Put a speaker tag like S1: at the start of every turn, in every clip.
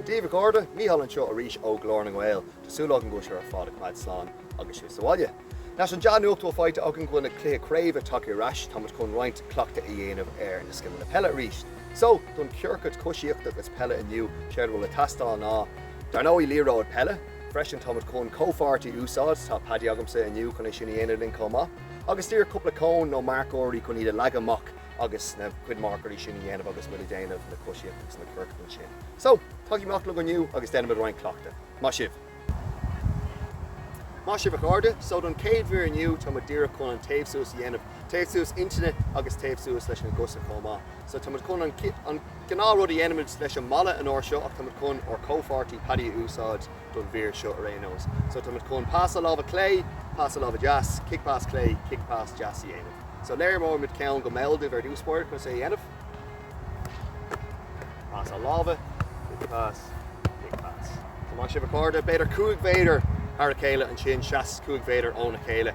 S1: Dia dhaoibh a chairde, Mícheál anseo arís ó Ghlór na nGael. Tá súil agam go bhfuil sibh ar fad ag coimeád slán agus sibh sa bhaile. Leis an dea nuacht a bhfuil faighte againn go bhfuil na cluichí craoibhe tagtha ar ais, tá muid chun roinnt cleachtaí a dhéanamh ar na scileanna peile arís. So, don ciorcad coisíochta agus peile inniu, séard a bhfuil ag teastáil ná, dar ndóigh, liathróid peile. Freisin, tá muid chun comhpháirtí a úsáid, tá Paddy agamsa inniu chun é sin a dhéanamh linn chomh maith. Agus díreach cúpla cón nó marcóirí chun iad a leagadh amach agus na cuid marcóirí sin a dhéanamh agus muid ag déanamh na coisíochta agus na coranna sin. So, tagaigh amach liom inniu agus déanaimis roinnt cleachtaí. Maith sibh. Maith sibh a chairde. So, don chéad mhír inniu táimid díreach chun an téamh suas a dhéanamh, téamh suas intinne agus téamh suas leis na cosa chomh maith. So, táimid chun an, an gnáth rud a dhéanaimid leis an mballa an uair seo ach táimid chun ár comhpháirtí Paddy a úsáid, don mhír seo ar aon nós. So táimid chun pas láimhe clé, pas láimhe deas, cic pas clé, cic pas deas a dhéanamh. So léireoimid ceann go mall daoibh ar dtús báire conas é a dhéanamh. Pas láimhe, cic pas, cic pas. So maith sibh a chairde, b'fhéidir cúig mhéadar thar a chéile ansin, seas cúig mhéadar óna chéile.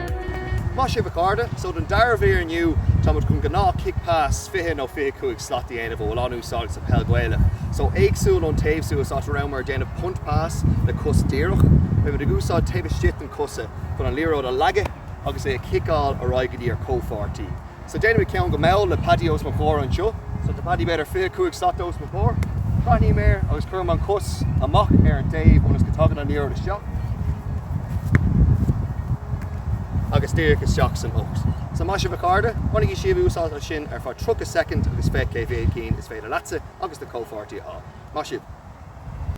S1: Maith sibh a chairde. So don dara mhír inniu táimid chun gnáth chic pas 20 nó 25 slat a dhéanamh a bhfuil an-úsáideach sa peil Ghaelach. So éagsúil ón téamh suas áit a rabhamar ag déanamh punt pas le cos díreach, beimid ag úsáid taobh istigh den chosa chun an liathróid a leagadh agus é a chiceáil ar aghaidh go dtí ár comhpháirtí. So déanfaimid ceann go mall le Paddy os mo chomhair anseo. So tá Paddy b'fhéidir 25 slat os mo chomhair. Caithim in airde agus cuirim an chos amach ar an dtaobh ionas go dtagann an liathróid isteach agus díreach isteach san ucht. So maith sibh a chairde, bainigí sibh úsáid as sin ar feadh 30 soicind agus féach cé mhéad cinn is féidir leatsa agus do chomhpháirtí a fháil. Maith sibh.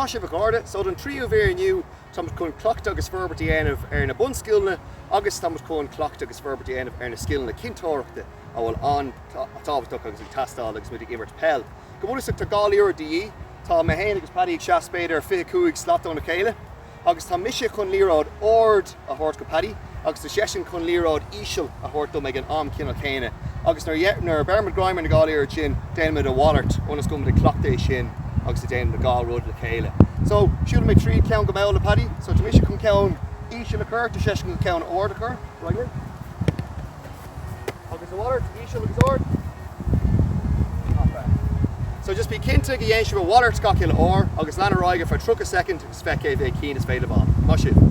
S1: Maith sibh a chairde, so don tríú mhír inniu táimid chun cleachtadh agus forbairt a dhéanamh ar na bunscileanna agus táimid chun cleachtadh agus forbairt a dhéanamh ar na scileanna cinnteoireachta a bhfuil an-tábhachtach agus ag teastáil agus muid ag imirt peil. Go bunúsach tá dhá liathróid de dhíth, tá mé féin agus Paddy ag seas b'fhéidir fiche cúig slat óna chéile agus tá mise chun liathróid ard a thabhairt go Paddy agus tá seisean chun liathróid íseal a thabhairt dom ag an am ceannann céanna agus nuair a bheirimid greim ar na dhá liathróid sin déanaimid a mhalairt ionas go bhfuilimid ag cleachtadh é sin agus ag déanamh dhá rud le chéile so siúlaimid tríd ceann go mall le Paddy so tá mise chun ceann íseal a chur tá seisean chun ceann ard a chur right in. Agus a mhalairt, íseal agus ard. Not bad. So just bí cinnte go ndéanann sibh a mhalairt chuile uair agus lean ar aghaidh ar feadh 30 soicind agus feic cé mhéad cinn is féidir libh a fháil. Maith sibh.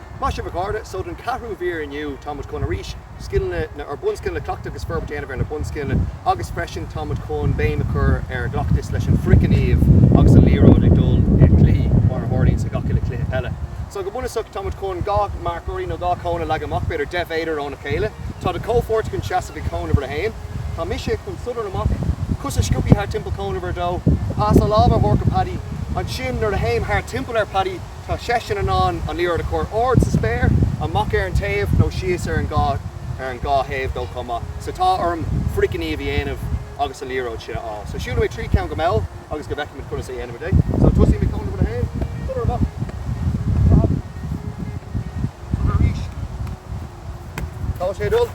S1: Maith sibh a chairde, so don ceathrú mhír inniu tá muid chun arís scileanna nó na bunscileanna a chleachtadh agus forbairt a dhéanamh ar na bunscileanna agus freisin tá muid chun béim a chur ar an gcleachtas leis an frithghníomh agus an liathróid ag dul i chluichí mar a tharlaíonns i chuile chluiche peile. So go bunúsach tá muid chun dhá marcóirí nó dhá chón a leagadh amach b'fhéidir deich méadar óna chéile. Tá do chomhpháirt chun seasamh ag cón uimhir a haon. Tá mise chun sodar amach, cosa scioptha thart timpeall cón uimhir a dó, pas láimhe a thabhairt do Paddy, ansin nuair a théim thart timpeall ar Paddy, Tá seisean in ann an liathróid a chur ard sa spéir, amach ar an taobh nó síos ar an dhá thaobh dó chomh maith. So tá orm frithghníomh a dhéanamh agus an liathróid sin a fháil. So siúlfaidh mé tríd ceann go mall ionas go bhfeicfimid conas a dhéanfaimid é. So tosaím ag cón uimhir a haon, sodar amach, sodar ar ais, tá sé ag dul,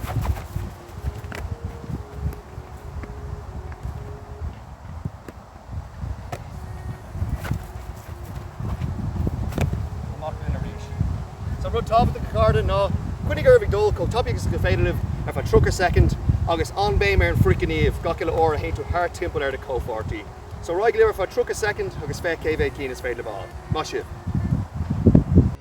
S1: Amach linn arís. Is é rud tábhachtach a chairde ná coinnigí oraibh ag dul chomh tapaidh agus is féidir libh ar feadh 30 soicind agus an-béim ar an frithghníomh chuile uair a théann tú thart timpeall ar do chomhpháirtí. So ar aghaidh libh ar feadh 30 soicind agus féach cé mhéad cinn is féidir libh a fháil. Maith sibh.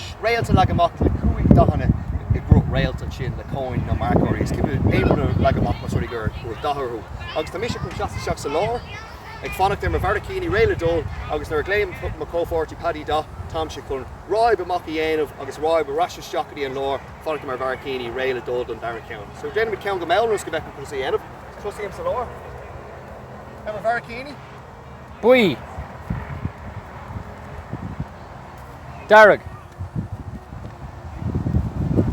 S1: Réalta leagtha amach le cúig dathanna i gcruth réalt, ansin le cóin nó marcóirí. Is féidir aon rud a leagadh amach más rud é go bhfuil dath orthu. Agus tá mise chun seasamh isteach sa lár, ag fanacht ar mo bharraicíní réidh le dul, agus nuair a ghlaonn mo chomhpháirtí Paddy dath, tá mise chun ráib amach a dhéanamh agus ráib ar ais isteach go dtí an lár, fanacht ar mo bharraicíní réidh le dul don dara ceann. So déanfaimid ceann go mall ionas go bhfeicfimid conas é a dhéanamh. Tosaím sa lár. Ar mo bharraicíní. buí, dearg,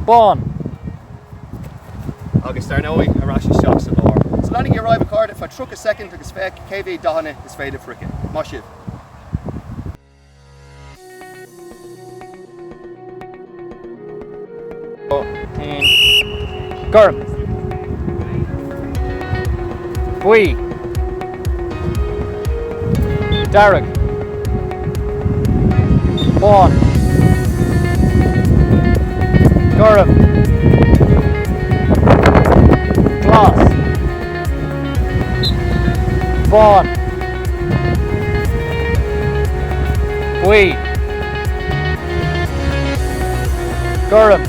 S1: bán. Agus dar ndóigh, ar ais isteach sa lár. So leanaigí ar aghaidh, a chairde, ar feadh 30 soicind agus féach cé mhéad dathanna is féidir libh a fháil. Maith sibh! Gorm. Buí. Dearg. Bán. Gorm. Glas. bán, buí, gorm.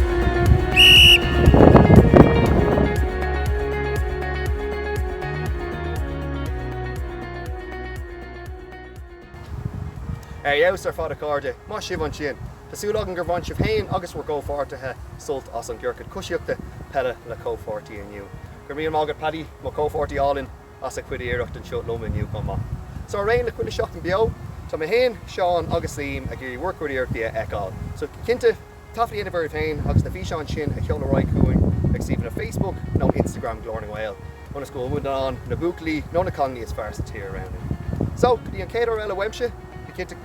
S1: Ar fheabhas ar fad a chairde, maith sibh ansin. Tá súil agam gur bhain sibh féin agus bhur gcomhpháirtithe sult as an gciorcad coisíochta peile le comhpháirtí inniu. Go raibh míle maith agat Paddy, mo chomhpháirtí álainn, as a chuid iarracht anseo liom inniu chomh maith. So ar aon le chuile sheachtain beo, tá mé féin, Seán agus Liam ag iarraidh bhur gcuid iarrachtaí a fheiceáil. So cinnte, taifead a dhéanamh oraibh féin agus na físeáin sin a sheoladh ar aghaidh chugainn ag suíomhanna Facebook nó Instagram Ghlór na nGael ionas go bhfuil muid in ann na buachaillí nó na cailíní is fearr sa tír a roghnú. So go dtí an chéad uair eile uaimse, bí cinnte go